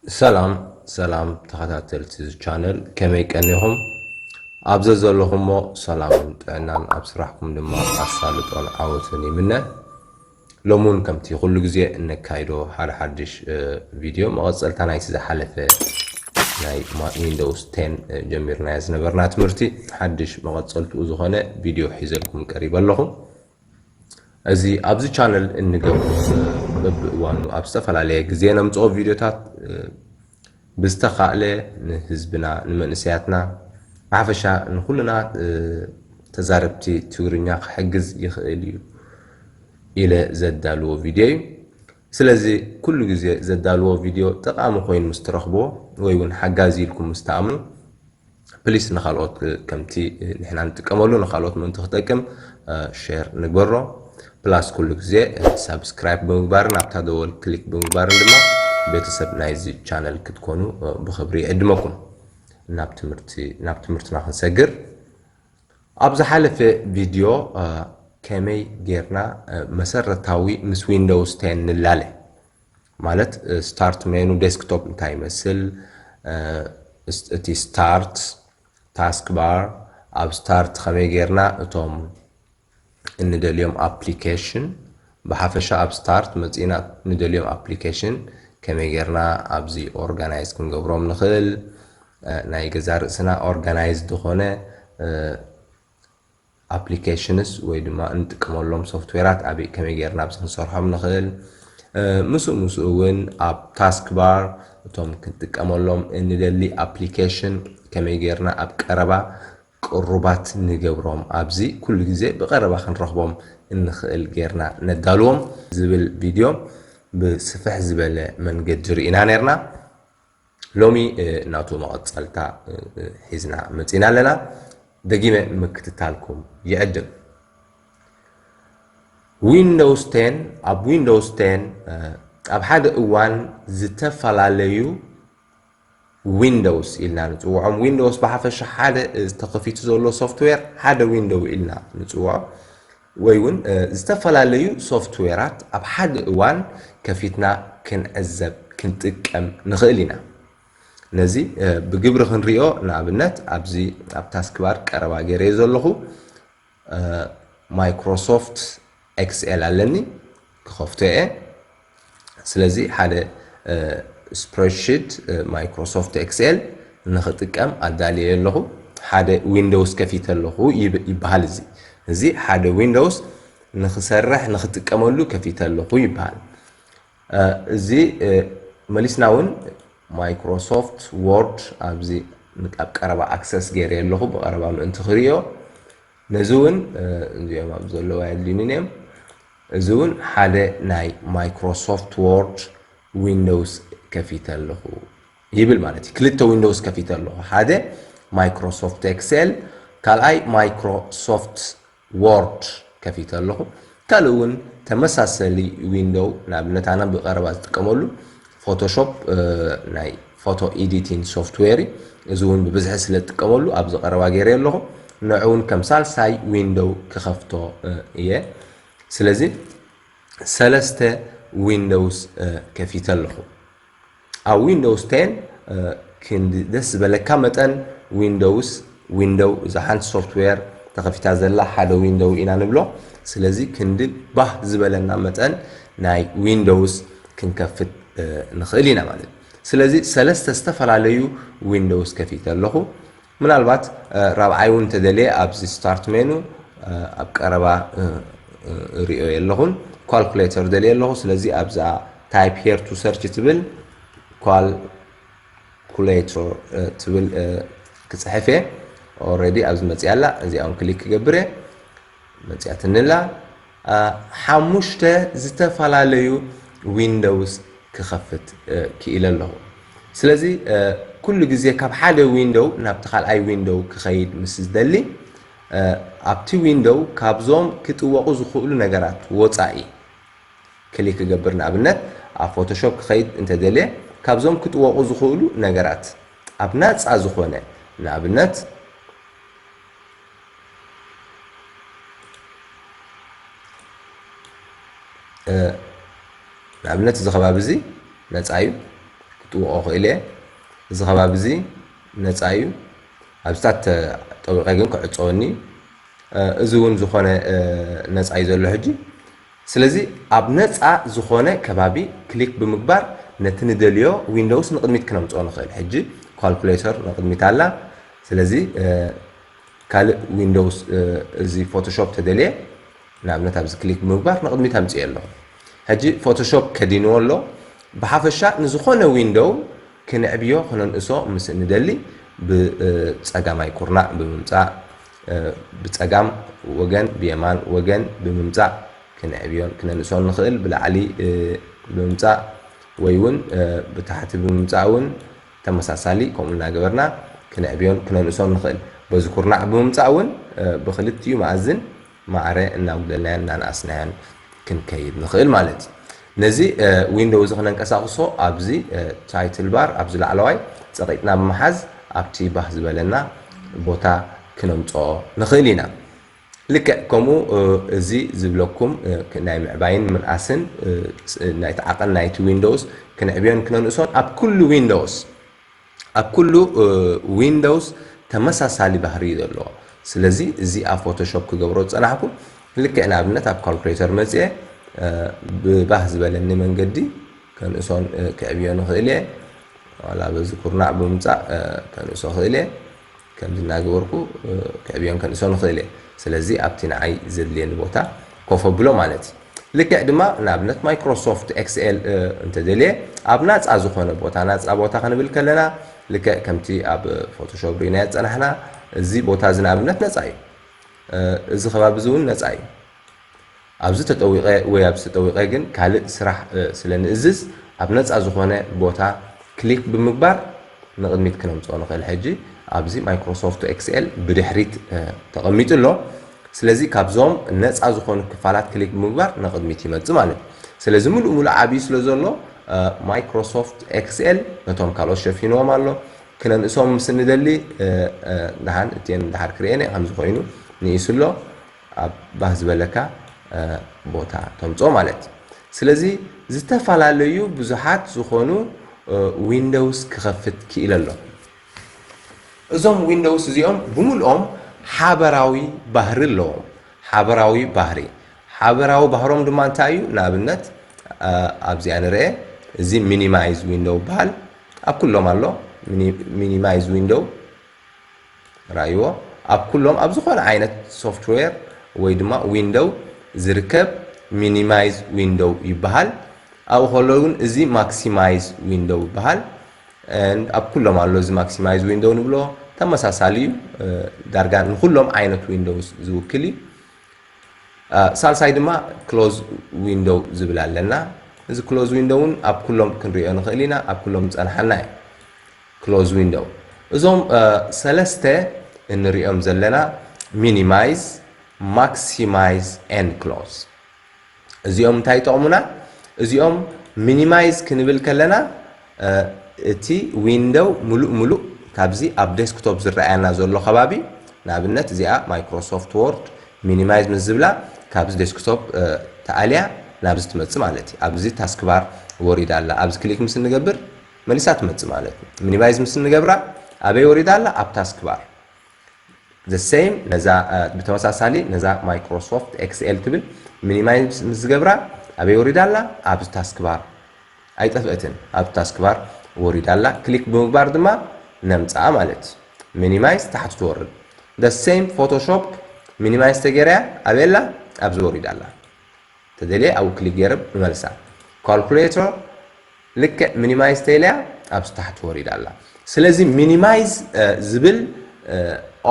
ሰላም ሰላም ተኸታተልቲ እዚ ቻነል ከመይ ቀኒኹም ኣብ ዘዘለኹሞ ሰላምን ጥዕናን ኣብ ስራሕኩም ድማ ኣሳልጦን ዓወትን ይምነ ሎሚ እውን ከምቲ ኩሉ ግዜ እነካይዶ ሓደ ሓድሽ ቪድዮ መቐፀልታ ናይቲ ዝሓለፈ ናይ ዊንዶውስ ቴን ጀሚርናዮ ዝነበርና ትምህርቲ ሓድሽ መቐፀልትኡ ዝኾነ ቪድዮ ሒዘልኩም ቀሪበ ኣለኹ እዚ ኣብዚ ቻነል እንገብሮ በብእዋኑ ኣብ ዝተፈላለየ ግዜ ነምፅኦ ቪድዮታት ብዝተኻእለ ንህዝብና ንመንእሰያትና ብሓፈሻ ንኩልና ተዛረብቲ ትግርኛ ክሕግዝ ይኽእል እዩ ኢለ ዘዳልዎ ቪድዮ እዩ ስለዚ ኩሉ ግዜ ዘዳልዎ ቪድዮ ጠቓሚ ኮይኑ ምስ ትረኽብዎ ወይ ውን ሓጋዚ ኢልኩም ምስ ትኣምኑ ፕሊስ ንኻልኦት ከምቲ ንሕና ንጥቀመሉ ንኻልኦት ምእንቲ ክጠቅም ሼር ንግበሮ ፕላስ ኩሉ ግዜ ሳብስክራይብ ብምግባርን ኣብታ ደወል ክሊክ ብምግባርን ድማ ቤተሰብ ናይዚ ቻነል ክትኮኑ ብኽብሪ ይዕድመኩም ናብ ትምህርቲ ናብ ትምህርትና ክንሰግር ኣብ ዝሓለፈ ቪድዮ ከመይ ጌርና መሰረታዊ ምስ ዊንዶውስ ቴን ንላለ ማለት ስታርት ሜኑ ዴስክቶፕ እንታይ ይመስል እቲ ስታርት ታስክ ባር ኣብ ስታርት ከመይ ጌርና እቶም እንደልዮም ኣፕሊከሽን ብሓፈሻ ኣብ ስታርት መጺእና ንደልዮም ኣፕሊከሽን ከመይ ጌርና ኣብዚ ኦርጋናይዝ ክንገብሮም ንኽእል ናይ ገዛ ርእስና ኦርጋናይዝ ዝኾነ ኣፕሊከሽንስ ወይ ድማ እንጥቀመሎም ሶፍትዌራት ኣበይ ከመይ ጌርና ኣብዚ ክንሰርሖም ንኽእል ምስኡ ምስኡ እውን ኣብ ታስክ ባር እቶም ክንጥቀመሎም እንደሊ ኣፕሊኬሽን ከመይ ጌርና ኣብ ቀረባ ቅሩባት ንገብሮም፣ ኣብዚ ኩሉ ግዜ ብቐረባ ክንረኽቦም እንኽእል ጌርና ነዳልዎም ዝብል ቪድዮ ብስፍሕ ዝበለ መንገዲ ርኢና ኔርና። ሎሚ ናቱ መቐጸልታ ሒዝና መጺእና ኣለና። ደጊመ ንምክትታልኩም ይዕድም። ዊንዶውስ ቴን ኣብ ዊንዶውስ ቴን ኣብ ሓደ እዋን ዝተፈላለዩ ዊንዶውስ ኢልና ንጽውዖም። ዊንዶውስ ብሓፈሻ ሓደ ተኸፊቱ ዘሎ ሶፍትዌር ሓደ ዊንዶው ኢልና ንጽውዖ ወይ እውን ዝተፈላለዩ ሶፍትዌራት ኣብ ሓደ እዋን ከፊትና ክንዕዘብ ክንጥቀም ንኽእል ኢና። ነዚ ብግብሪ ክንሪኦ ንኣብነት ኣብዚ ኣብ ታስክባር ቀረባ ገይረዮ ዘለኹ ማይክሮሶፍት ኤክስኤል ኣለኒ ክኸፍቶ እየ ስለዚ ሓደ ስፕሬድሽት ማይክሮሶፍት ኤክስኤል ንኽጥቀም ኣዳልየ ኣለኹ ሓደ ዊንዶውስ ከፊተ ኣለኹ ይበሃል እዚ እዚ ሓደ ዊንዶውስ ንኽሰርሕ ንኽጥቀመሉ ከፊተ ኣለኹ ይበሃል እዚ መሊስና እውን ማይክሮሶፍት ዎርድ ኣብዚ ኣብ ቀረባ ኣክሰስ ገይረ ኣለኹ ብቐረባ ምእንቲ ክርእዮ ነዚ እውን እዚኦም ኣብ ዘለዋ የድልዩኒ እዮም እዚ እውን ሓደ ናይ ማይክሮሶፍት ዎርድ ዊንዶውስ ከፊተ ኣለኹ ይብል ማለት እዩ ክልተ ዊንዶውስ ከፊተ ኣለኹ ሓደ ማይክሮሶፍት ኤክሴል ካልኣይ ማይክሮሶፍት ዎርድ ከፊተ ኣለኹ ካልእ ውን ተመሳሰሊ ዊንዶው ንኣብነት ኣነ ብቀረባ ዝጥቀመሉ ፎቶሾፕ ናይ ፎቶ ኤዲቲን ሶፍትዌር እዩ እዚ ውን ብብዝሒ ስለ ዝጥቀመሉ ኣብዚ ቀረባ ገይረ ኣለኹ ንዑ ውን ከም ሳልሳይ ዊንዶው ክኸፍቶ እየ ስለዚ ሰለስተ ዊንዶውስ ከፊተ ኣለኹ ኣብ ዊንዶውስ ቴን ክንዲ ደስ ዝበለካ መጠን ዊንዶውስ ዊንዶው እዛ ሓንቲ ሶፍትዌር ተኸፊታ ዘላ ሓደ ዊንዶው ኢና ንብሎ ስለዚ ክንዲ ባህ ዝበለና መጠን ናይ ዊንዶውስ ክንከፍት ንኽእል ኢና ማለት እዩ ስለዚ ሰለስተ ዝተፈላለዩ ዊንዶውስ ከፊተ ኣለኹ ምናልባት ራብዓይ ውን ተደልየ ኣብዚ ስታርት ሜኑ ኣብ ቀረባ እርእዮ የለኹን ኳልኩሌተር ደልየ ኣለኹ ስለዚ ኣብዛ ታይፕ ሄር ቱ ሰርች ትብል ኳልኩሌተር ትብል ክፅሕፍ እየ ኦልሬዲ ኣብዚ መፅያ ኣላ እዚኣ ውን ክሊክ ክገብር እየ መጺኣትኒ'ላ ሓሙሽተ ዝተፈላለዩ ዊንዶውስ ክኸፍት ክኢለ ኣለኹ። ስለዚ ኩሉ ግዜ ካብ ሓደ ዊንዶው ናብቲ ካልኣይ ዊንዶው ክኸይድ ምስ ዝደሊ ኣብቲ ዊንዶው ካብዞም ክጥወቑ ዝኽእሉ ነገራት ወጻኢ ክሊክ ክገብር ንኣብነት ኣብ ፎቶሾፕ ክኸይድ እንተደልየ ካብዞም ክጥወቑ ዝኽእሉ ነገራት ኣብ ናጻ ዝኾነ ንኣብነት ንኣብነት እዚ ከባቢ እዚ ነፃ እዩ ክጥውቆ ክእል እየ እዚ ከባቢ እዚ ነፃ እዩ ኣብዚታት ጠዊቀ ግን ክዕፀወኒ እዩ እዚ እውን ዝኾነ ነፃ እዩ ዘሎ ሕጂ ስለዚ ኣብ ነፃ ዝኾነ ከባቢ ክሊክ ብምግባር ነቲ ንደልዮ ዊንዶውስ ንቅድሚት ክነምፅኦ ንኽእል ሕጂ ኳልኩሌተር ንቅድሚት ኣላ ስለዚ ካልእ ዊንዶውስ እዚ ፎቶሾፕ ተደልየ ንኣብነት ኣብዚ ክሊክ ብምግባር ንቕድሚት ኣምፅኤ ኣለኹ ሕጂ ፎቶሾፕ ከዲንዎ ኣሎ ብሓፈሻ ንዝኾነ ዊንዶው ክንዕብዮ ክነንእሶ ምስ እንደሊ ብፀጋማይ ኩርናዕ ብምምፃእ ብፀጋም ወገን ብየማን ወገን ብምምፃእ ክንዕብዮን ክነንእሶን ንኽእል ብላዕሊ ብምምፃእ ወይ እውን ብታሕቲ ብምምፃእ እውን ተመሳሳሊ ከምኡ እናገበርና ክነዕብዮን ክነንእሶን ንኽእል። በዚ ኩርናዕ ብምምጻእ እውን ብኽልቲኡ መኣዝን ማዕረ እናጉደልናዮን እናነኣስናዮን ክንከይድ ንኽእል ማለት እዩ። ነዚ ዊንዶው እዚ ክነንቀሳቕሶ ኣብዚ ታይትል ባር ኣብዚ ላዕለዋይ ጸቒጥና ብምሓዝ ኣብቲ ባህ ዝበለና ቦታ ክነምጽኦ ንኽእል ኢና። ልክዕ ከምኡ እዚ ዝብለኩም ናይ ምዕባይን ምንኣስን ናይቲ ዓቐን ናይቲ ዊንዶውስ ክንዕብዮን ክነንእሶን ኣብ ኩሉ ዊንዶውስ ኣብ ኩሉ ዊንዶውስ ተመሳሳሊ ባህሪ እዩ ዘለዎ ስለዚ እዚ ኣብ ፎቶሾፕ ክገብሮ ዝጸናሕኩ ልክዕ ንኣብነት ኣብ ካልኩሌተር መጽኤ ብባህ ዝበለኒ መንገዲ ከንእሶን ክዕብዮ ንኽእል እየ ዋላ በዚ ኩርናዕ ብምምጻእ ከንእሶ ክእል እየ ከምዚ እናገበርኩ ከዕብዮን ከንእሶን እኽእል እየ። ስለዚ ኣብቲ ንዓይ ዘድልየኒ ቦታ ኮፍ ኣብሎ ማለት እዩ። ልክዕ ድማ ንኣብነት ማይክሮሶፍት ኤክስኤል እንተደልየ ኣብ ናጻ ዝኾነ ቦታ፣ ናጻ ቦታ ክንብል ከለና ልክዕ ከምቲ ኣብ ፎቶሾፕ ርኢናዮ ዝጸናሕና እዚ ቦታ እዚ ንኣብነት ነጻ እዩ። እዚ ከባቢ እዚ እውን ነጻ እዩ። ኣብዚ ተጠዊቐ ወይ ኣብዚ ተጠዊቐ ግን ካልእ ስራሕ ስለ ንእዝዝ ኣብ ነጻ ዝኾነ ቦታ ክሊክ ብምግባር ንቕድሚት ክነምጽኦ ንኽእል ሕጂ ኣብዚ ማይክሮሶፍቱ ኤክስኤል ብድሕሪት ተቐሚጡ ኣሎ ስለዚ ካብዞም ነጻ ዝኾኑ ክፋላት ክሊክ ብምግባር ንቕድሚት ይመጽእ ማለት እዩ ስለዚ ምሉእ ምሉእ ዓብዩ ስለ ዘሎ ማይክሮሶፍት ኤክስኤል ነቶም ካልኦት ሸፊንዎም ኣሎ ክነንእሶም ምስ ንደሊ ደሓን እትየን ደሓር ክርእየን እየ ከምዚ ኮይኑ ንኢሱ ኣሎ ኣብ ባህ ዝበለካ ቦታ ተምጾ ማለት እዩ። ስለዚ ዝተፋላለዩ ብዙሓት ዝኾኑ ዊንዶውስ ክኸፍት ክኢለ ኣለኹ። እዞም ዊንዶውስ እዚኦም ብምልኦም ሓበራዊ ባህሪ ኣለዎም። ሓበራዊ ባህሪ፣ ሓበራዊ ባህሮም ድማ እንታይ እዩ? ንኣብነት ኣብዚኣ ንርኤ፣ እዚ ሚኒማይዝ ዊንዶው ይበሃል። ኣብ ኩሎም ኣሎ ሚኒማይዝ ዊንዶው። ርኣይዎ፣ ኣብ ኩሎም ኣብ ዝኾነ ዓይነት ሶፍትዌር ወይ ድማ ዊንዶው ዝርከብ ሚኒማይዝ ዊንዶው ይበሃል። ኣብኡ ከሎ ግን እዚ ማክሲማይዝ ዊንዶው ይበሃል። and ኣብ ኩሎም ኣሎ እዚ ማክሲማይዝ ዊንዶው ንብሎ ተመሳሳሊ እዩ ዳርጋ ንኩሎም ዓይነት ዊንዶውስ ዝውክል እዩ ሳልሳይ ድማ ክሎዝ ዊንዶው ዝብል ኣለና እዚ ክሎዝ ዊንዶውን ኣብ ኩሎም ክንሪኦ ንኽእል ኢና ኣብ ኩሎም ዝፀንሓና እዩ Close Window እዞም ሰለስተ እንሪኦም ዘለና Minimize Maximize and Close እዚኦም እንታይ ይጠቕሙና እዚኦም ሚኒማይዝ ክንብል ከለና እቲ ዊንዶው ምሉእ ምሉእ ካብዚ ኣብ ዴስክቶፕ ዝረኣየና ዘሎ ከባቢ ንኣብነት እዚኣ ማይክሮሶፍት ወርድ ሚኒማይዝ ምስ ዝብላ ካብዚ ዴስክቶፕ ተኣልያ ናብዚ ትመፅእ ማለት እዩ ኣብዚ ታስክባር ወሪዳ ኣላ ኣብዚ ክሊክ ምስ እንገብር መሊሳ ትመጽእ ማለት እዩ ሚኒማይዝ ምስ እንገብራ ኣበይ ወሪዳ ኣላ ኣብ ታስክ ባር the same ነዛ ብተመሳሳሊ ነዛ ማይክሮሶፍት ኤክስኤል ትብል ሚኒማይዝ ምስ ዝገብራ ኣበይ ወሪዳ ኣላ ኣብ ታስክ ባር ኣይጠፍእትን ኣብ ታስክ ባር ወሪዳ ኣላ ክሊክ ብምግባር ድማ ነምጽኣ ማለት እዩ ሚኒማይዝ ታሕቲ ትወርድ the same ፎቶሾፕ ሚኒማይዝ ተገይራያ ኣበይ ኣላ ኣብዚ ወሪዳ ኣላ ተደልየ ኣብኡ ክሊክ ገይረ እመልሳ። Calculator ልክዕ Minimize ተይለያ ኣብዚ ታሕቲ ወሪዳ ኣላ። ስለዚ Minimize ዝብል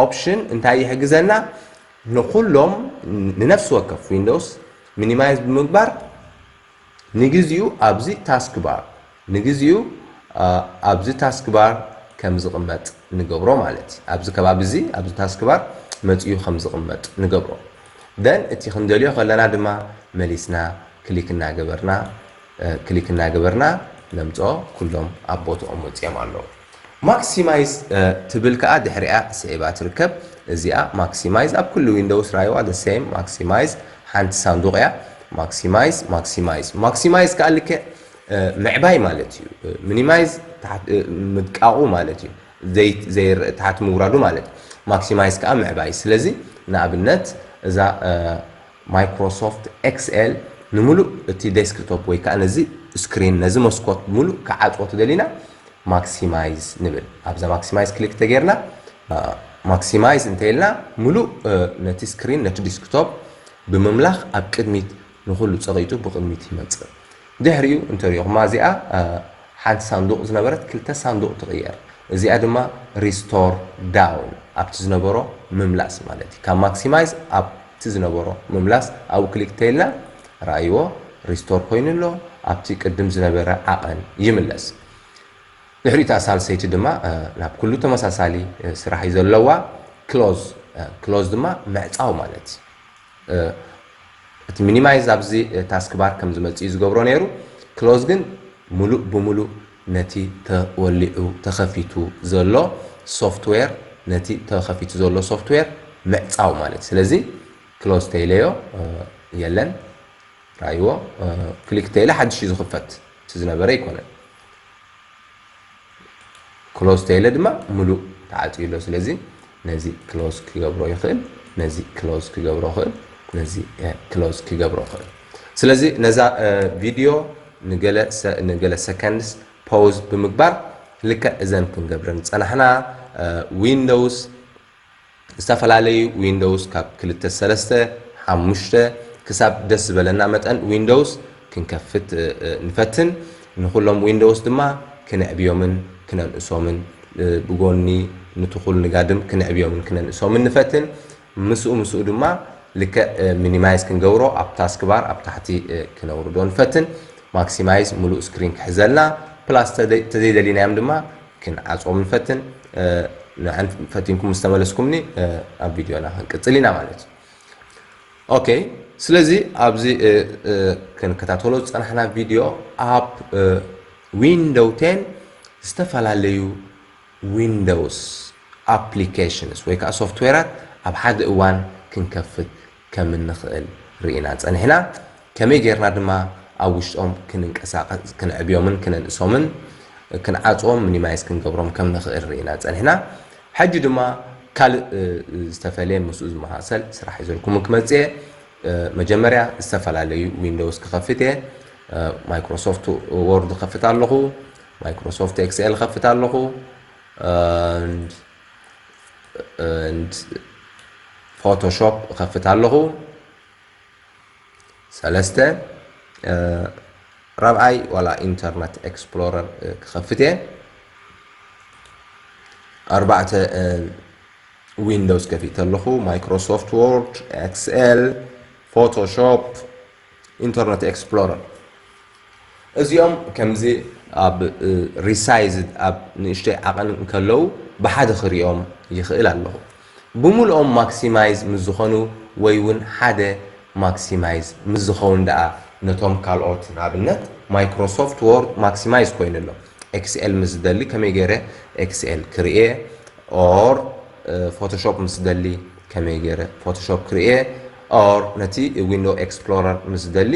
ኦፕሽን እንታይ ይሕግዘና ንኹሎም ንነፍሲ ወከፍ ዊንዶውስ ሚኒማይዝ ብምግባር ንግዚኡ ኣብዚ ታስክ ባር ንግዚኡ ኣብዚ ታስክ ባር ከም ዝቕመጥ ንገብሮ ማለት እዩ። ኣብዚ ከባቢ እዚ ኣብዚ ታስክ ባር መጺኡ ከም ዝቕመጥ ንገብሮ then እቲ ክንደልዮ ከለና ድማ መሊስና ክሊክ እናገበርና ክሊክ እናገበርና ነምጽኦ ኩሎም ኣብ ቦትኦም ወጺኦም ኣለዉ። ማክሲማይዝ ትብል ከኣ ድሕሪኣ ስዒባ ትርከብ እዚኣ ማክሲማይዝ ኣብ ኩሉ ዊንዶውስ ራይዋ the same ማክሲማይዝ ሓንቲ ሳንዱቕ እያ ማክሲማይዝ ማክሲማይዝ ማክሲማይዝ ከኣ ልክዕ ምዕባይ ማለት እዩ። ሚኒማይዝ ታሕት ምድቃቑ ማለት እዩ። ዘይት ዘይር ታሕት ምውራዱ ማለት እዩ። ማክሲማይዝ ከኣ ምዕባይ። ስለዚ ንኣብነት እዛ ማይክሮሶፍት ኤክስኤል ንምሉእ እቲ ዴስክቶፕ ወይ ከኣ ነዚ ስክሪን ነዚ መስኮት ምሉእ ክዓጽዎ ተደሊና ማክሲማይዝ ንብል። ኣብዛ ማክሲማይዝ ክሊክ ተጌርና ማክሲማይዝ እንተኢልና ምሉእ ነቲ ስክሪን ነቲ ዲስክቶፕ ብምምላኽ ኣብ ቅድሚት ንኹሉ ጸቒጡ ብቕድሚት ይመጽእ። ድሕሪኡ እንተ ርኢኹማ እዚኣ ሓንቲ ሳንዱቕ ዝነበረት ክልተ ሳንዱቕ ትቕየር። እዚኣ ድማ Restore Down ኣብቲ ዝነበሮ ምምላስ ማለት እዩ። ካብ Maximize ኣብቲ ዝነበሮ ምምላስ ኣብኡ ክሊክ ተይልና ርኣይዎ Restore ኮይኑ ኣሎ ኣብቲ ቅድም ዝነበረ ዓቐን ይምለስ። ድሕሪኡ እታ ሳልሰይቲ ድማ ናብ ኩሉ ተመሳሳሊ ስራሕ እዩ ዘለዋ Close Close ድማ ምዕጻው ማለት እዩ። እቲ ሚኒማይዝ ኣብዚ ታስክባር ከም ዝመጽእ እዩ ዝገብሮ ነይሩ፣ ክሎዝ ግን ምሉእ ብምሉእ ነቲ ተወሊዑ፣ ተኸፊቱ፣ ዘሎ ሶፍትዌር ነቲ ተኸፊቱ ዘሎ ሶፍትዌር ምዕጻው ማለት እዩ። ስለዚ ክሎዝ ተይለዮ የለን ርኣይዎ፣ ክሊክ ተይለ ሓድሽ እዩ ዝኽፈት እቲ ዝነበረ ኣይኮነን። ክሎዝ ተይለ ድማ ምሉእ ተዓፅዩ ኣሎ ስለዚ ነዚ ክሎዝ ክገብሮ ይኽእል ነዚ ክሎዝ ክገብሮ ይኽእል ነዚ ክሎዝ ክገብሮ ይኽእል ስለዚ ነዛ ቪድዮ ንገለ ሰከንድስ ፖውዝ ብምግባር ልክዕ እዘን ክንገብረን ዝፀናሕና ዊንዶውስ ዝተፈላለዩ ዊንዶውስ ካብ ክልተ ሰለስተ፣ ሓሙሽተ፣ ክሳብ ደስ ዝበለና መጠን ዊንዶውስ ክንከፍት ንፈትን። ንኹሎም ዊንዶውስ ድማ ክነዕብዮምን ክነንእሶምን ብጎኒ ንቱኩል ንጋድም ክነዕብዮምን ክነንእሶምን ንፈትን። ምስኡ ምስኡ ድማ ልክዕ ሚኒማይዝ ክንገብሮ ኣብ ታስክ ባር ኣብ ታሕቲ ክነውርዶ ንፈትን። ማክሲማይዝ ሙሉእ ስክሪን ክሕዘልና ፕላስ ተዘይደሊናዮም ድማ ክንዓጽዎም ንፈትን ንዕን ፈቲንኩም ምስ ተመለስኩምኒ ኣብ ቪድዮና ክንቅጽል ኢና ማለት እዩ ኦኬ ስለዚ ኣብዚ ክንከታተሎ ዝጸናሕና ቪድዮ ኣብ ዊንዶው ቴን ዝተፈላለዩ ዊንዶውስ ኣፕሊኬሽንስ ወይ ከዓ ሶፍትዌራት ኣብ ሓደ እዋን ክንከፍት ከም እንኽእል ርኢና ጸኒሕና። ከመይ ጌርና ድማ ኣብ ውሽጦም ክንንቀሳቐስ፣ ክንዕብዮምን ክነንእሶምን፣ ክንዓጽዎም፣ ሚኒማይዝ ክንገብሮም ከም ንኽእል ርኢና ጸኒሕና። ሕጂ ድማ ካልእ ዝተፈልየ ምስኡ ዝመሳሰል ስራሕ ሒዘልኩም ክመጽእ እየ። መጀመርያ ዝተፈላለዩ ዊንዶውስ ክኸፍት እየ። ማይክሮሶፍት ዎርድ እኸፍት ኣለኹ፣ ማይክሮሶፍት ኤክስኤል እኸፍት ኣለኹ። ፎቶሾፕ እኸፍት ኣለኹ ሰለስተ ራብዓይ ዋላ ኢንተርነት ኤክስፕሎረር ክኸፍት እየ ኣርባዕተ ዊንዶውስ ከፊተ ኣለኹ ማይክሮሶፍት ዎርድ ኤክስኤል ፎቶሾፕ ኢንተርነት ኤክስፕሎረር እዚኦም ከምዚ ኣብ ሪሳይዝድ ኣብ ንእሽተይ ዓቐን እንከለዉ ብሓደ ክሪኦም ይኽእል ኣለኹ። ብምሉኦም ማክሲማይዝ ምስ ዝኾኑ ወይ ውን ሓደ ማክሲማይዝ ምስ ዝኸውን ደኣ ነቶም ካልኦት ንኣብነት ማይክሮሶፍት ዎርድ ማክሲማይዝ ኮይኑ ኣሎ ኤክስኤል ምስ ዝደሊ ከመይ ገይረ ኤክስኤል ክርኤ ኦር ፎቶሾፕ ምስ ዝደሊ ከመይ ገይረ ፎቶሾፕ ክርኤ ኦር ነቲ ዊንዶው ኤክስፕሎረር ምስ ዝደሊ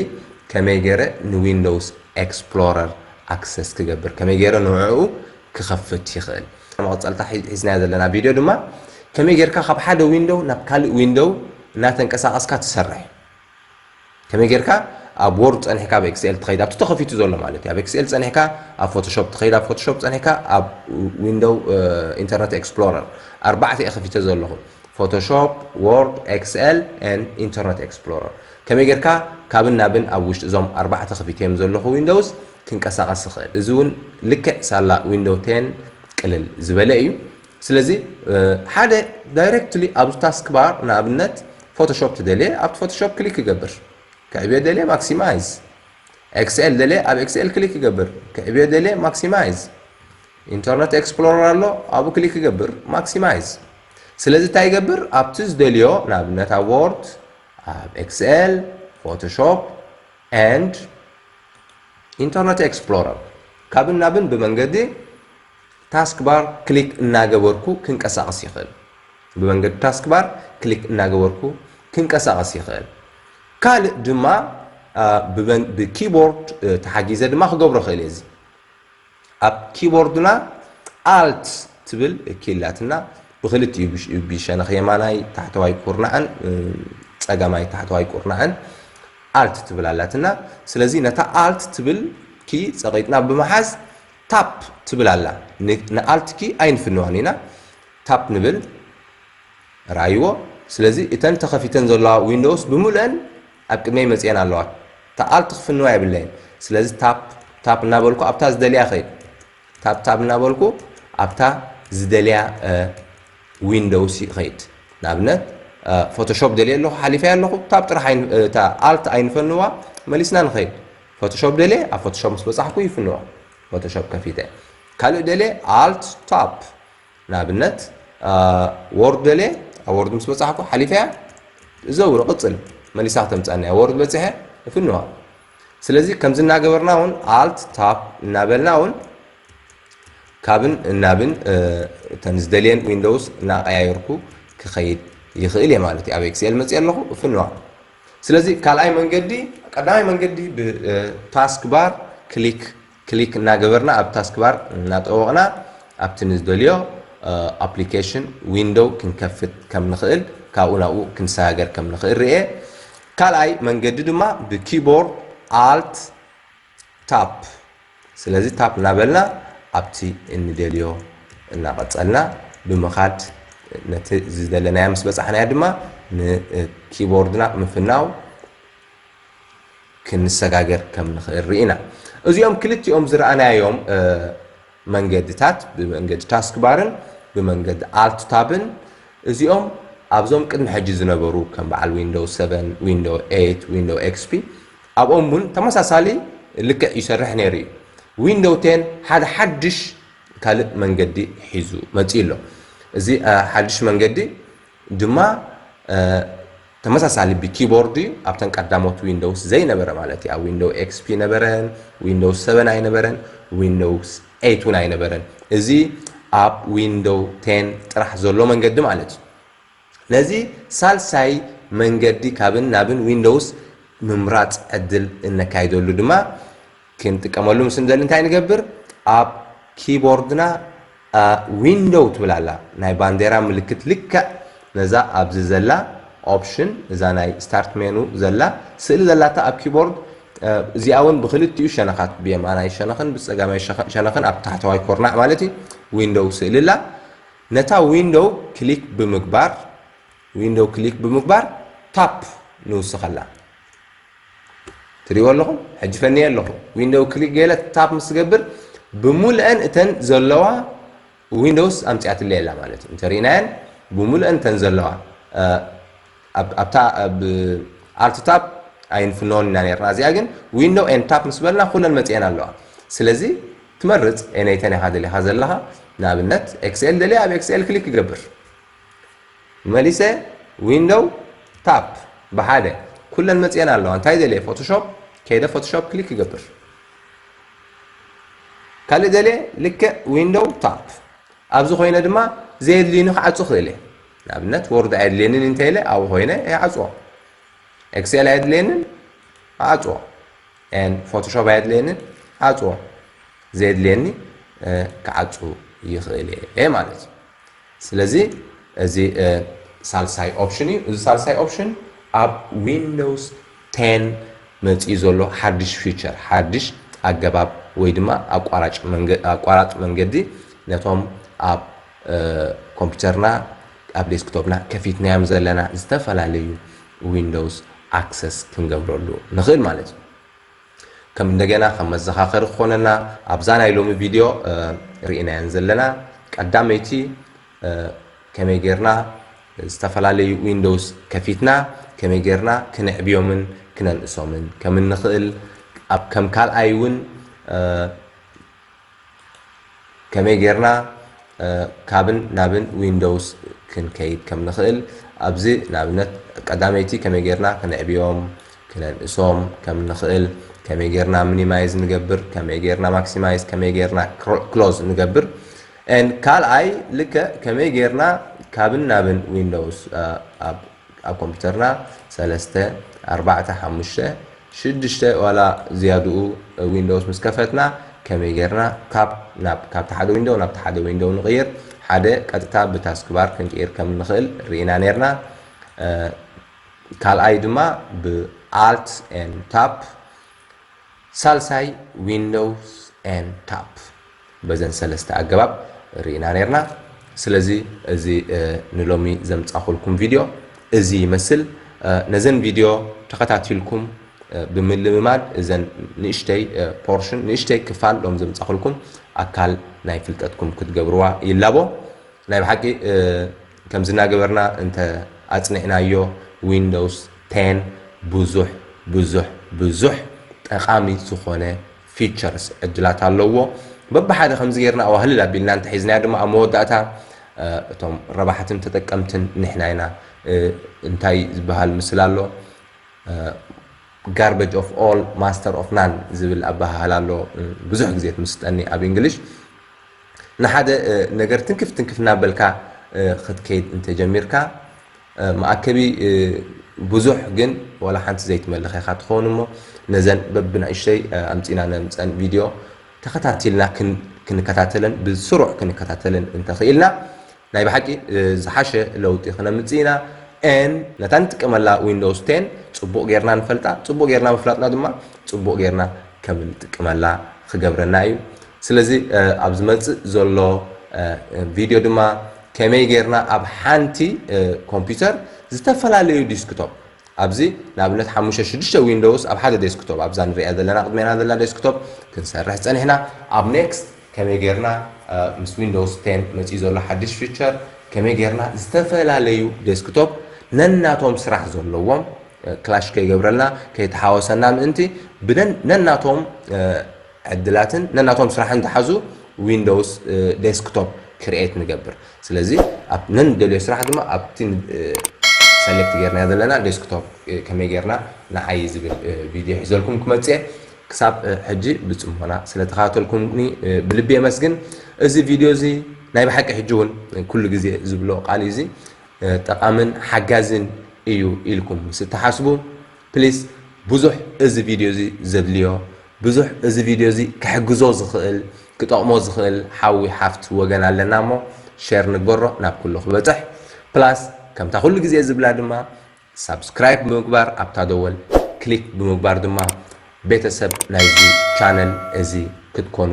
ከመይ ገይረ ንዊንዶውስ ኤክስፕሎረር ኣክሰስ ክገብር ከመይ ገይረ ንዕዑ ክኸፍት ይኽእል መቐፀልታ ሒዝናዮ ዘለና ቪድዮ ድማ ከመይ ጌርካ ካብ ሓደ ዊንዶው ናብ ካልእ ዊንዶው እናተንቀሳቐስካ ትሰርሕ ከመይ ጌርካ ኣብ ወርድ ፀኒሕካ ኣብ ኤክስኤል ትኸይድ ኣብቲ ተኸፊቱ ዘሎ ማለት እዩ ኣብ ኤክስኤል ፀኒሕካ ኣብ ፎቶሾፕ ትኸይድ ኣብ ፎቶሾፕ ፀኒሕካ ኣብ ዊንዶው ኢንተርነት ኤክስፕሎረር ኣርባዕተ እየ ከፊተ ዘለኹ ፎቶሾፕ፣ ዎርድ፣ ኤክስኤል and ኢንተርነት ኤክስፕሎረር። ከመይ ጌርካ ካብን ናብን ኣብ ውሽጢ እዞም ኣርባዕተ ክፊተዮም ዘለኹ ዊንዶውስ ክንቀሳቐስ ዝኽእል። እዚ እውን ልክዕ ሳላ ዊንዶው ቴን ቅልል ዝበለ እዩ። ስለዚ ሓደ ዳይረክትሊ ኣብዚ ታስክ ባር ንኣብነት ፎቶሾፕ ትደልየ ኣብቲ ፎቶሾፕ ክሊክ ክገብር። ክዕብዮ ደልየ ማክሲማይዝ። ኤክስኤል ደልየ ኣብ ኤክስኤል ክሊክ ክገብር። ክዕብዮ ደልየ ማክሲማይዝ። ኢንተርነት ኤክስፕሎረር ኣሎ ኣብኡ ክሊክ ክገብር ማክሲማይዝ ስለዚ እንታይ ይገብር ኣብቲ ዝደልዮ ንኣብነት ኣብ ዎርድ ኣብ ኤክስኤል ፎቶሾፕ ኤንድ ኢንተርነት ኤክስፕሎረር ካብን ናብን ብመንገዲ ታስክ ባር ክሊክ እናገበርኩ ክንቀሳቐስ ይኽእል ብመንገዲ ታስክ ባር ክሊክ እናገበርኩ ክንቀሳቐስ ይኽእል ካልእ ድማ ብኪቦርድ ተሓጊዘ ድማ ክገብሮ ክእል እየ እዚ ኣብ ኪቦርድና Alt ትብል ኪይ ኣላትና፣ ብኽልቲኡ ብሸነኽ የማናይ ታሕተዋይ ኩርናዕን ጸጋማይ ታሕተዋይ ኩርናዕን Alt ትብል ኣላትና። ስለዚ ነታ Alt ትብል ኪይ ጸቒጥና ብምሓዝ Tap ትብል ኣላ፣ ን Alt ኪይ ኣይንፍንዋን ኢና፣ Tap ንብል፣ ርኣይዎ፣ ስለዚ እተን ተኸፊተን ዘለዋ ዊንዶውስ ብምሉኤን ኣብ ቅድመይ መጺኤን ኣለዋ ተኣል ትኽፍንዋ የብለይን ስለዚ ታፕ ታፕ እናበልኩ ኣብታ ዝደልያ ኸይድ ታፕ ታፕ እናበልኩ ኣብታ ዝደልያ ዊንዶውስ ይኸይድ ንኣብነት ፎቶሾፕ ደልየ ኣለኹ ሓሊፈያ ኣለኹ ታብ ጥራሕ እታ ኣልት ኣይንፈንዋ መሊስና ንኸይድ ፎቶሾፕ ደልየ ኣብ ፎቶሾፕ ምስ በፃሕኩ ይፍንዋ ፎቶሾፕ ከፊተ ካልእ ደልየ ኣልት ታፕ ንኣብነት ዎርድ ደልየ ኣብ ዎርድ ምስ በፃሕኩ ሓሊፈያ ዘውር ቕፅል መሊሳ ክተምፃና እያ ዎርድ በፂሐ እፍንዋ ስለዚ ከምዚ እናገበርና እውን ኣልት ታፕ እናበልና እውን ካብን እናብን እተን ዝደልየን ዊንዶውስ እናቀያየርኩ ክኸይድ ይኽእል እየ ማለት እዩ ኣብ ኤክስኤል መፅእ ኣለኹ እፍንዋ ስለዚ ካልኣይ መንገዲ ቀዳማይ መንገዲ ብታስክ ባር ክሊክ ክሊክ እናገበርና ኣብ ታስክባር እናጠወቕና ኣብቲ ንዝደልዮ ኣፕሊኬሽን ዊንዶው ክንከፍት ከም ንኽእል ካብኡ ናብኡ ክንሰጋገር ከም ንኽእል ርእየ። ካልኣይ መንገዲ ድማ ብኪቦርድ Alt Tab ስለዚ ታፕ እናበልና ኣብቲ እንደልዮ እናቐጸልና ብምኻድ ነቲ ዝደለናያ ምስ በጻሕናያ ድማ ንኪቦርድና ምፍናው ክንሰጋገር ከም ንኽእል ርኢና። እዚኦም ክልቲኦም ዝረኣናዮም መንገድታት፣ ብመንገዲ ታስክባርን ብመንገዲ ኣልት ታብን፣ እዚኦም ኣብዞም ቅድሚ ሕጂ ዝነበሩ ከም በዓል ዊንዶው ሰቨን፣ ዊንዶው ኤይት፣ ዊንዶው ኤክስፒ ኣብኦም እውን ተመሳሳሊ ልክዕ ይሰርሕ ነይሩ እዩ። ዊንዶው ቴን ሓደ ሓድሽ ካልእ መንገዲ ሒዙ መጺኡ ኣሎ። እዚ ሓድሽ መንገዲ ድማ ተመሳሳሊ ብኪቦርድ እዩ ኣብተን ቀዳሞት ዊንዶውስ ዘይነበረ ማለት እዩ ኣብ ዊንዶው ኤክስፒ ነበረን ዊንዶውስ ሰበን ኣይነበረን ዊንዶውስ ኤይት እውን ኣይነበረን እዚ ኣብ ዊንዶው ቴን ጥራሕ ዘሎ መንገዲ ማለት እዩ ነዚ ሳልሳይ መንገዲ ካብን ናብን ዊንዶውስ ምምራፅ ዕድል እነካይደሉ ድማ ክንጥቀመሉ ምስ እንደሊ እንታይ ንገብር? ኣብ ኪቦርድና ዊንዶው ትብል ኣላ፣ ናይ ባንዴራ ምልክት ልክዕ ነዛ ኣብዚ ዘላ ኦፕሽን እዛ ናይ ስታርት ሜኑ ዘላ ስእሊ ዘላታ ኣብ ኪቦርድ እዚኣ እውን ብክልቲኡ ሸነኻት ብየማናይ ሸነኽን ብፀጋማይ ሸነኽን ኣብ ታሕተዋይ ኮርናዕ ማለት እዩ ዊንዶው ስእሊ ኣላ። ነታ ዊንዶው ክሊክ ብምግባር ዊንዶው ክሊክ ብምግባር ታፕ ንውስኸላ። ትሪእዎ ኣለኹም ሕጂ ፈንየ ኣለኹ ዊንዶው ክሊክ ገለ ታፕ ምስ ትገብር ብሙሉአን እተን ዘለዋ ዊንዶውስ ኣምፅኣትለይ ኣላ ማለት እዩ እንተሪእናየን ብሙሉአን እተን ዘለዋ ኣብታ ኣልት ታፕ ኣይንፍነዎን ኢና ነርና እዚኣ ግን ዊንዶው ኤን ታፕ ምስ በልና ኩለን መፅኤን ኣለዋ ስለዚ ትመርፅ ኤነይተን ኢኻ ደሊኻ ዘለኻ ንኣብነት ኤክስኤል ደልየ ኣብ ኤክስኤል ክሊክ ይገብር መሊሰ ዊንዶው ታፕ ብሓደ ኩለን መፅኤን ኣለዋ እንታይ ደልየ ፎቶሾፕ ከይደ ፎቶሾፕ ክሊክ ክገብር ካልእ ደልየ ልክዕ ዊንዶው ታፕ ኣብዚ ኮይነ ድማ ዘየድልዩኒ ክዓፁ ክእል እየ ንኣብነት ወርድ ኣየድልየንን እንተ ኢለ ኣብኡ ኮይነ ይዓፅዎ ኤክሴል ኣየድልየንን ዓፅዎ ን ፎቶሾፕ ኣየድልየንን ዓፅዎ ዘየድልየኒ ክዓፁ ይኽእል እየ ማለት እዩ ስለዚ እዚ ሳልሳይ ኦፕሽን እዩ። እዚ ሳልሳይ ኦፕሽን ኣብ ዊንዶውስ ቴን መፂኡ ዘሎ ሓዱሽ ፊቸር፣ ሓዱሽ ኣገባብ ወይ ድማ ኣቋራጭ መንገዲ ነቶም ኣብ ኮምፒተርና ኣብ ዴስክቶፕና ከፊትናዮም ዘለና ዝተፈላለዩ ዊንዶውስ ኣክሰስ ክንገብረሉ ንኽእል ማለት እዩ። ከም እንደገና ከም መዘኻኸሪ ክኾነና ኣብዛ ናይ ሎሚ ቪድዮ ርኢናየን ዘለና ቀዳመይቲ ከመይ ጌርና ዝተፈላለዩ ዊንዶውስ ከፊትና ከመይ ጌርና ክነዕብዮምን ክነንእሶምን ከም እንኽእል ኣብ ከም ካልኣይ እውን ከመይ ጌርና ካብን ናብን ዊንዶውስ ክንከይድ ከም ንኽእል ኣብዚ ንኣብነት ቀዳመይቲ ከመይ ጌርና ክንዕብዮም ክነንእሶም ከም ንኽእል ከመይ ጌርና ሚኒማይዝ ንገብር ከመይ ጌርና ማክሲማይዝ ከመይ ጌርና ክሎዝ ንገብር ን ካልኣይ ልከ ከመይ ጌርና ካብን ናብን ዊንዶውስ ኣብ ኣብ ኮምፒተርና ሰለስተ፣ ኣርባዕተ፣ ሓሙሽተ፣ ሽዱሽተ ዋላ ዝያድኡ ዊንዶውስ ምስ ከፈትና ከመይ ጌርና Tab ናብ ካብቲ ሓደ ዊንዶው ናብቲ ሓደ ዊንዶው ንቕይር ሓደ ቀጥታ ብታስክባር ክንቅይር ከም እንኽእል ርኢና ኔርና ካልኣይ ድማ ብ Alt and Tab ሳልሳይ ዊንዶውስ and ታፕ በዘን ሰለስተ ኣገባብ ሪኢና ኔርና ስለዚ እዚ ንሎሚ ዘምጻኹልኩም ቪድዮ እዚ ይመስል ነዘን ቪድዮ ተኸታቲልኩም ብምልምማድ እዘን ንእሽተይ ፖርሽን ንእሽተይ ክፋል ሎም ዘምጻኹልኩም ኣካል ናይ ፍልጠትኩም ክትገብርዋ ይላቦ ናይ ብሓቂ ከምዚ እናገበርና እንተ ኣጽኒዕናዮ ዊንዶውስ ቴን ብዙሕ ብዙሕ ብዙሕ ጠቓሚ ዝኾነ ፊቸርስ፣ ዕድላት፣ ኣለዎ። በብሓደ ከምዚ ጌርና ኣዋህልል ኣቢልና እንተ ሒዝናዮ ድማ ኣብ መወዳእታ እቶም ረባሕትን ተጠቀምትን ንሕና ኢና። እንታይ ዝበሃል ምስላ ኣሎ ጋርበጅ ኦፍ ኦል ማስተር ኦፍ ናን ዝብል ኣበሃህላ ኣሎ ብዙሕ ግዜ ትምስጠኒ ኣብ እንግሊሽ። ንሓደ ነገር ትንክፍ ትንክፍ እናበልካ ኽትከይድ እንተ ጀሚርካ፣ መኣከቢ ብዙሕ ግን ዋላ ሓንቲ ዘይትመልኽ ኢኻ ትኸውን እሞ፣ ነዘን በብንእሽተይ ኣምጺእና ነምጽኣን ቪድዮ ተኸታቲልና ክንከታተለን ብስሩዕ ክንከታተለን እንተ ኽኢልና ናይ ብሓቂ ዝሓሸ ለውጢ ክነምጽእ ኢና and ነታ ንጥቀመላ ዊንዶውስ ቴን ጽቡቕ ጌርና ንፈልጣ፣ ጽቡቕ ጌርና ምፍላጥና ድማ ጽቡቕ ጌርና ከም እንጥቀመላ ክገብረና እዩ። ስለዚ ኣብ ዝመጽእ ዘሎ ቪድዮ ድማ ከመይ ጌርና ኣብ ሓንቲ ኮምፒዩተር ዝተፈላለዩ ዲስክቶፕ ኣብዚ ንኣብነት ሓሙሽተ ሽዱሽተ ዊንዶውስ ኣብ ሓደ ዴስክቶፕ ኣብዛ ንሪኣ ዘለና ቅድሜና ዘላ ዴስክቶፕ ክንሰርሕ ፀኒሕና ኣብ ኔክስት ከመይ ጌርና ምስ ዊንዶውስ ቴን መፂኡ ዘሎ ሓድሽ ፊቸር ከመይ ጌርና ዝተፈላለዩ ዴስክቶፕ ነናቶም ስራሕ ዘለዎም ክላሽ ከይገብረልና ከይተሓወሰና ምእንቲ ብነናቶም ዕድላትን ነናቶም ስራሕን ዝሓዙ ዊንዶውስ ዴስክቶፕ ክርኤት ንገብር ስለዚ ኣብ ነንደልዮ ስራሕ ድማ ኣብቲ ሰሌክት ጌርናዮ ዘለና ዴስክቶፕ ከመይ ጌርና ንዓዪ ዝብል ቪድዮ ሒዘልኩም ክመጽእ እየ ክሳብ ሕጂ ብጽሞና ስለ ተኸታተልኩምኒ ብልቢ የመስግን እዚ ቪድዮ እዚ ናይ ብሓቂ ሕጂ እውን ኩሉ ግዜ ዝብሎ ቃል እዚ ጠቓምን ሓጋዝን እዩ ኢልኩም ምስ እትሓስቡ ፕሊስ ብዙሕ እዚ ቪድዮ እዚ ዘድልዮ ብዙሕ እዚ ቪድዮ እዚ ክሕግዞ ዝኽእል ክጠቕሞ ዝኽእል ሓዊ ሓፍት ወገን ኣለና እሞ ሼር ንግበሮ ናብ ኩሉ ክበጽሕ ፕላስ ከምታ ኩሉ ግዜ ዝብላ ድማ ሳብስክራይብ ብምግባር ኣብታ ደወል ክሊክ ብምግባር ድማ ቤተሰብ ናይዚ ቻነል እዚ ክትኮኑ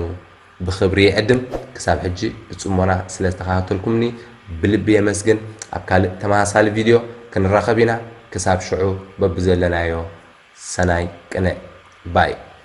ብኽብሪ ይዕድም ክሳብ ሕጂ ብጽሞና ስለ ዝተኻታተልኩምኒ ብልቢ የመስግን ኣብ ካልእ ተመሳሳሊ ቪድዮ ክንራኸብ ኢና ክሳብ ሽዑ በብዘለናዮ ሰናይ ቅነ ባይ።